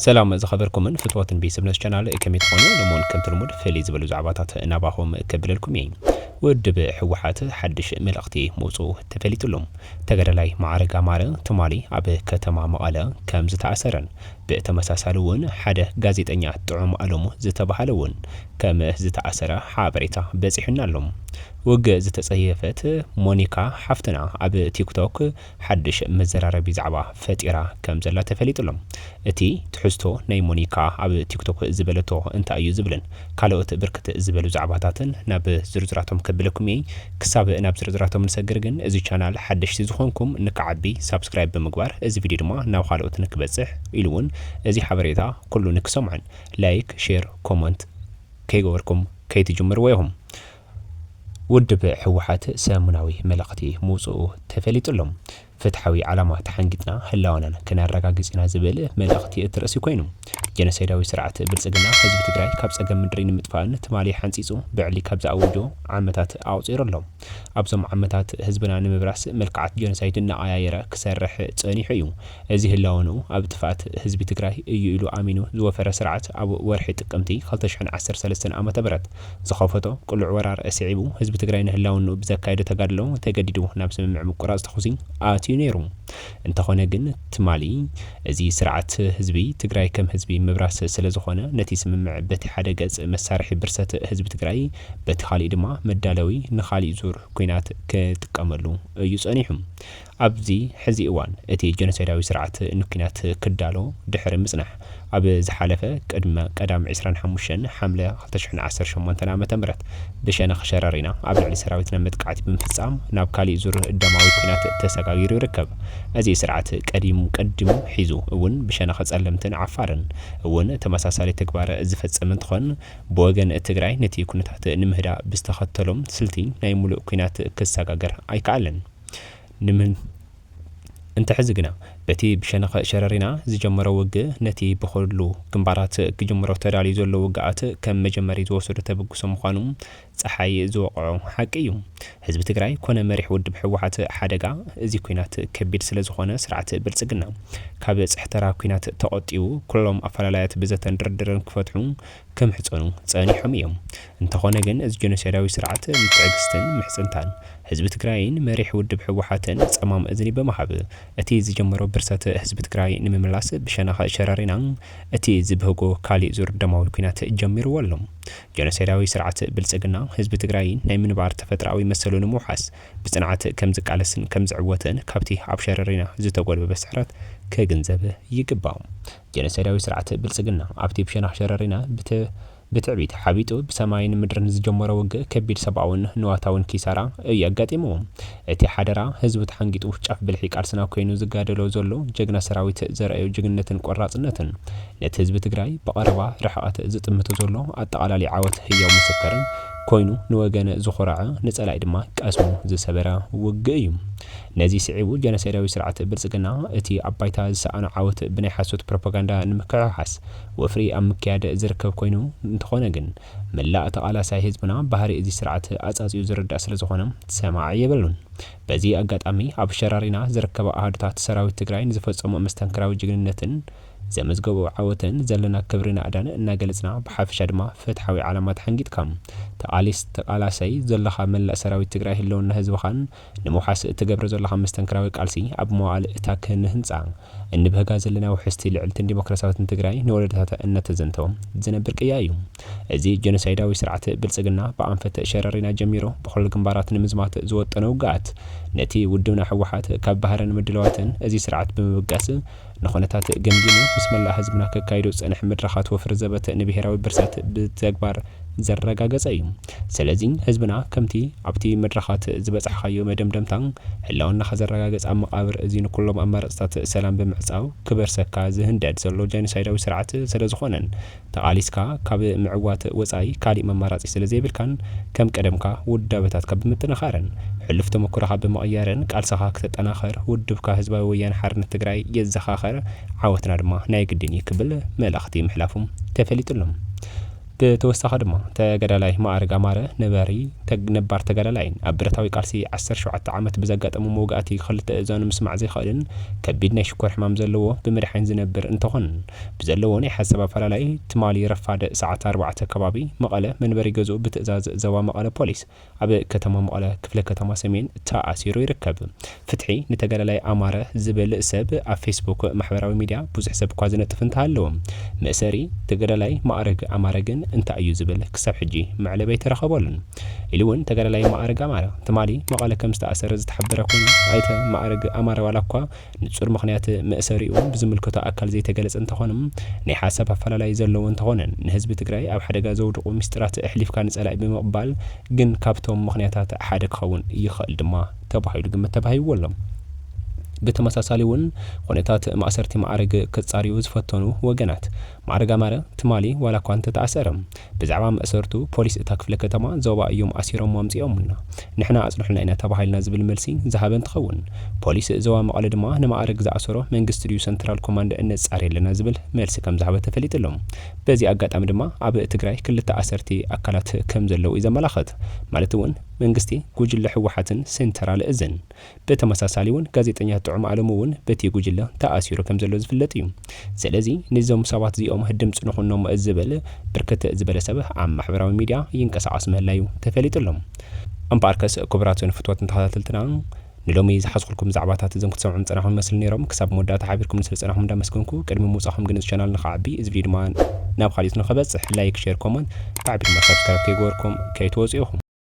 ሰላም ዝኸበርኩምን ፍትወትን ቤተሰብነስ ቻናል ከመይ ትኾኑ? ንሞን ከምቲ ልሙድ ፍልይ ዝበሉ ዛዕባታት ናባኹም ከብለልኩም እየ። ውድብ ህወሓት ሓድሽ መልእኽቲ ምውፅኡ ተፈሊጡሉ። ተጋዳላይ መዓረግ ኣማረ ትማሊ ኣብ ከተማ መቐለ ከም ዝተኣሰረን ብተመሳሳሊ እውን ሓደ ጋዜጠኛ ጥዑም ኣለሙ ዝተባሃለ እውን ከም ዝተኣሰረ ሓበሬታ በፂሑና ኣሎ። ውግእ ዝተፀየፈት ሞኒካ ሓፍትና ኣብ ቲክቶክ ሓድሽ መዘራረቢ ዛዕባ ፈጢራ ከም ዘላ ተፈሊጡ ኣሎ። እቲ ትሕዝቶ ናይ ሞኒካ ኣብ ቲክቶክ ዝበለቶ እንታይ እዩ ዝብልን ካልኦት ብርክት ዝበሉ ዛዕባታትን ናብ ዝርዝራቶም ከብለኩም እየ። ክሳብ ናብ ዝርዝራቶም ንሰግር ግን እዚ ቻናል ሓደሽቲ ዝኾንኩም ንክዓቢ ሳብስክራይብ ብምግባር እዚ ቪድዮ ድማ ናብ ኻልኦት ንክበፅሕ ኢሉ እውን እዚ ሓበሬታ ኩሉ ንክሰምዖን ላይክ፣ ሼር፣ ኮሞንት ከይገበርኩም ከይትጅምርዎ ኢኹም። ውድብ ህወሓት ሰሙናዊ መልእኽቲ ምውፅኡ ተፈሊጡ ኣሎ። ፍትሓዊ ዓላማ ተሓንጊጥና ህላወናን ክነረጋግፅ ኢና ዝብል መልእኽቲ እቲ ርእሲ ኮይኑ፣ ጀኖሳይዳዊ ስርዓት ብልፅግና ህዝቢ ትግራይ ካብ ፀገም ምድሪ ንምጥፋእን ትማሊ ሓንፂፁ ብዕሊ ካብ ዝኣወጆ ዓመታት ኣቑፂሩ ኣሎ። ኣብዞም ዓመታት ህዝብና ንምብራስ መልክዓት ጀኖሳይድ እናቐያየረ ክሰርሕ ፀኒሑ እዩ። እዚ ህላወንኡ ኣብ ጥፍኣት ህዝቢ ትግራይ እዩ ኢሉ ኣሚኑ ዝወፈረ ስርዓት ኣብ ወርሒ ጥቅምቲ ክልተ ሽሕን ዓሰርተ ሰለስተን ዓ.ም ዝኸፈቶ ቅሉዕ ወራር ስዒቡ ህዝቢ ትግራይ ንህላውንኡ ብዘካየዶ ተጋድሎ ተገዲዱ ናብ ስምምዕ ምቁራፅ ተኹሲ ኣትዩ ነይሩ። እንተኾነ ግን ትማሊ እዚ ስርዓት ህዝቢ ትግራይ ከም ህዝቢ ምብራስ ስለዝኾነ ነቲ ስምምዕ በቲ ሓደ ገፅ መሳርሒ ብርሰት ህዝቢ ትግራይ በቲ ካሊእ ድማ መዳለዊ ንኻሊእ ዙር ኲናት ክጥቀመሉ እዩ ፀኒሑ። ኣብዚ ሕዚ እዋን እቲ ጀኖሳይዳዊ ስርዓት ንኲናት ክዳሎ ድሕሪ ምጽናሕ፣ ኣብ ዝሓለፈ ቅድመ ቀዳም ዕስራን ሓሙሽተን ሓምለ ክልተ ሽሕን ዓሰርተ ሸሞንተን ዓመተ ምህረት ብሸነኽ ሸረሪና ኣብ ልዕሊ ሰራዊትና መጥቃዕቲ ብምፍጻም ናብ ካሊእ ዙር ደማዊ ኲናት ተሰጋጊሩ ይርከብ። እዚ ስርዓት ቀዲሙ ቀዲሙ ሒዙ እውን ብሸነኽ ጸለምትን ዓፋርን እውን ተመሳሳሊ ተግባር ዝፈጸመ እንትኾን ብወገን ትግራይ ነቲ ኩነታት ንምህዳእ ብዝተኸተሎ ስልቲ ናይ ሙሉእ ኲናት ክሰጋገር ኣይከኣለን። ንምን እንተ ሕዚ ግና በቲ ብሸነኸ ሸረሪና ዝጀመሮ ውግ ነቲ ብኹሉ ግንባራት ክጅምሮ ተዳልዩ ዘሎ ውግኣት ከም መጀመሪ ዝወሰዶ ተበግሶ ምዃኑ ጸሓይ ዝወቕዖ ሓቂ እዩ። ህዝቢ ትግራይ ኮነ መሪሕ ውድብ ሕወሓት ሓደጋ እዚ ኩናት ከቢድ ስለ ዝኾነ ስርዓት ብልጽግና ካብ ጽሕተራ ኩናት ተቖጢቡ ኩሎም ኣፈላላያት ብዘተን ድርድርን ክፈትሑ ክምሕጸኑ ጸኒሖም እዮም። እንተኾነ ግን እዚ ጀኖሳይዳዊ ስርዓት ንትዕግስትን ምሕጽንታን ህዝቢ ትግራይን መሪሕ ውድብ ህወሓትን ጸማም እዝኒ ብምሃብ እቲ ዝጀመሮ ብርሰት ህዝቢ ትግራይ ንምምላስ ብሸነኽ ሸረሪና እቲ ዝብህጎ ካሊእ ዙር ደማዊ ኩናት ጀሚርዎ ኣሎ። ጀኖሳይዳዊ ስርዓት ብልጽግና ህዝቢ ትግራይ ናይ ምንባር ተፈጥሮኣዊ መሰሉ ንምውሓስ ብጽንዓት ከምዝቃለስን ከምዝዕወትን ካብቲ ኣብ ሸረሪና ዝተጎልበበ ስዕረት ክግንዘብ ይግባእ። ጀኖሳይዳዊ ስርዓት ብልጽግና ኣብቲ ብሸነኽ ሸረሪና ብትዕቢት ሓቢጡ ብሰማይን ምድርን ዝጀመሮ ውግእ ከቢድ ሰብኣውን ንዋታውን ኪሳራ እዩ ኣጋጢምዎ። እቲ ሓደራ ህዝቡ ተሓንጊጡ ጫፍ ብልሒ ቃልስና ኮይኑ ዝጋደሎ ዘሎ ጀግና ሰራዊት ዘርኣዮ ጅግንነትን ቆራጽነትን ነቲ ህዝቢ ትግራይ ብቐረባ ርሕቐት ዝጥምቶ ዘሎ ኣጠቓላሊ ዓወት ህያው ምስክር ኮይኑ ንወገን ዝኾረዐ ንጸላኢ ድማ ቀስሙ ዝሰበረ ውግእ እዩ። ነዚ ስዒቡ ጀኖሳይዳዊ ስርዓት ብልጽግና፣ እቲ ኣብ ባይታ ዝሰኣኖ ዓወት ብናይ ሓሶት ፕሮፖጋንዳ ንምክሕሓስ ወፍሪ ኣብ ምክያድ ዝርከብ ኮይኑ፣ እንተኾነ ግን መላእ ተቓላሳይ ህዝብና ባህሪ እዚ ስርዓት ኣጻጽዩ ዝርዳእ ስለዝኾነ ሰማዒ የብሉን። በዚ ኣጋጣሚ ኣብ ሸራሪና ዝርከባ ኣሃዱታት ሰራዊት ትግራይ ንዝፈጸምኦ መስተንክራዊ ጅግንነትን ዘመዝገብኦ ዓወትን ዘለና ክብሪ ናእዳን እናገለጽና ብሓፈሻ ድማ ፍትሓዊ ዓላማ ተሓንጊጥካ ተቓሊስ ተቓላሳይ ዘሎኻ መላእ ሰራዊት ትግራይ ህልውና ህዝብኻን ንምውሓስ እትገብሮ ዘሎኻ መስተንክራዊ ቃልሲ ኣብ መዋእል እታ ክንህንጻ እንብህጋ ዘለና ውሕስቲ ልዕልትን ዲሞክራሲያዊትን ትግራይ ንወለዶታታ እነተዘንተወ ዝነብር ቅያ እዩ። እዚ ጀኖሳይዳዊ ስርዓት ብልጽግና ብኣንፈት ሸረሪና ጀሚሩ ብኹሉ ግንባራት ንምዝማት ዝወጠኖ ውግኣት ነቲ ውድብና ህወሓት ካብ ባህርን ምድላዋትን እዚ ስርዓት ብምብጋስ ንኹነታት ገምጊሙ ምስ መላእ ህዝብና ከካይዶ ዝጸንሐ መድረኻት ወፍሪ ዘበተ ንብሄራዊ ብርሰት ብተግባር ዘረጋገጸ እዩ። ሰለዚ ህዝብና ከምቲ ኣብቲ መድረኻት ዝበጻሕኻዮ መደምደምታ ህላወናኻ ዘረጋግጽ ኣብ መቓብር እዚ ንኩሎም ኣማረጽታት ሰላም ብምዕጻው ክበርሰካ ዝህንደድ ዘሎ ጀኖሳይዳዊ ስርዓት ሰለዝኾነን ተቓሊስካ ካብ ምዕዋት ወጻኢ ካሊእ መማራጺ ስለ ዘይብልካን ከም ቀደምካ ውዳበታትካ ብምጥንኻርን ሕሉፍ ተመኩሮኻ ብምቕያርን ቃልስኻ ክተጠናኽር ውድብካ ህዝባዊ ወያነ ሓርነት ትግራይ የዘኻኸር ዓወትና ድማ ናይ ግድን እዩ ክብል መልእኽቲ ምሕላፉ ተፈሊጡ ኣሎ። ብተወሳኺ ድማ ተጋዳላይ መኣርግ ኣማረ ነበሪ ነባር ተጋዳላይን ኣብ ብረታዊ ቃልሲ ዓሰርተ ሸውዓተ ዓመት ብዘጋጠሞ መውጋእቲ ክልተ እዛኑ ምስማዕ ዘይኸእልን ከቢድ ናይ ሽኮር ሕማም ዘለዎ ብመድሓኒት ዝነብር እንተኾን ብዘለዎ ናይ ሓሳብ ኣፈላላይ ትማሊ ረፋድ ሰዓት ኣርባዕተ ከባቢ መቐለ መንበሪ ገዝኡ ብትእዛዝ ዘባ መቐለ ፖሊስ ኣብ ከተማ መቐለ ክፍለ ከተማ ሰሜን ተኣሲሩ ይርከብ። ፍትሒ ንተጋዳላይ ኣማረ ዝብል ሰብ ኣብ ፌስቡክ ማሕበራዊ ሚድያ ብዙሕ ሰብ እኳ ዝነጥፍ እንተሃለወ መእሰሪ ተጋዳላይ ማእርግ ኣማረ ግን እንታይ እዩ ዝብል ክሳብ ሕጂ መዕለቢ ኣይተረኸበሉን ኢሉ እውን ተጋዳላይ ማእርግ ኣማረ ትማሊ መቐለ ከምዝተኣሰረ ዝተሓበረ ኮይኑ ኣይተ ማእርግ ኣማረ ዋላ እኳ ንፁር ምኽንያት መእሰሪኡ ብዝምልከቶ ኣካል ዘይተገለፀ እንተኾነ ናይ ሓሳብ ኣፈላላይ ዘለዎ እንተኾነ ንህዝቢ ትግራይ ኣብ ሓደጋ ዘውድቑ ሚስጢራት ኣሕሊፍካ ንፀላኢ ብምቕባል ግን ካብቶም ምኽንያታት ሓደ ክኸውን ይኸእል ድማ ተባሂሉ ግምት ተባሂብዎ ኣሎ። ብተመሳሳሊ እውን ኹነታት ማእሰርቲ ማዕርግ ክፃርዩ ዝፈተኑ ወገናት ማዕረግ ኣማረ ትማሊ ዋላ እኳ እንተተኣሰረ ብዛዕባ መእሰርቱ ፖሊስ እታ ክፍለ ከተማ ዞባ እዮም ኣሲሮምዎ ኣምፂኦሙልና ንሕና ኣፅንሑልና ኢና ተባሂልና ዝብል መልሲ ዝሃበ እንትኸውን ፖሊስ ዞባ መቐለ ድማ ንማዕረግ ዝኣሰሮ መንግስቲ ድዩ ሰንትራል ኮማንድ እነፃሪ ኣለና ዝብል መልሲ ከምዝሃበ ተፈሊጡ ኣሎ በዚ ኣጋጣሚ ድማ ኣብ ትግራይ ክልተ ኣሰርቲ ኣካላት ከምዘለው እዩ ዘመላኽት ማለት እውን መንግስቲ ጉጅለ ህወሓትን ሴንተራል እዝን ብተመሳሳሊ ውን ጋዜጠኛ ጥዑም ኣለሙ ውን ብቲ ጉጅለ ተኣሲሩ ከም ዘሎ ዝፍለጥ እዩ። ስለዚ ንዞም ሰባት እዚኦም ድምጺ ንኹኖም ዝብል ብርክት ዝበለ ሰብ ኣብ ማሕበራዊ ሚድያ ይንቀሳቐስ ምህላዩ ተፈሊጡ ኣሎ። እምበኣርከስ ክቡራትን ፍትወትን ተኸታተልትና ንሎሚ ዝሓዝኹልኩም ዛዕባታት እዞም ክትሰምዑም ዝጸናሕኩም ይመስሉ ኔሮም። ክሳብ መወዳእታ ሓቢርኩምኒ ስለ ዝጸናሕኩም እንዳመስገንኩ ቅድሚ ምውጻኹም ግን እዚ ቻናል ንኸዓቢ እዚ ቪድዮ ድማ ናብ ኻልኦት ንኸበጽሕ ላይክ ሼር ኮመንት ብዓቢኡ ድማ ሳብስክራይብ ከይገበርኩም ከይትወጹ ኢኹም።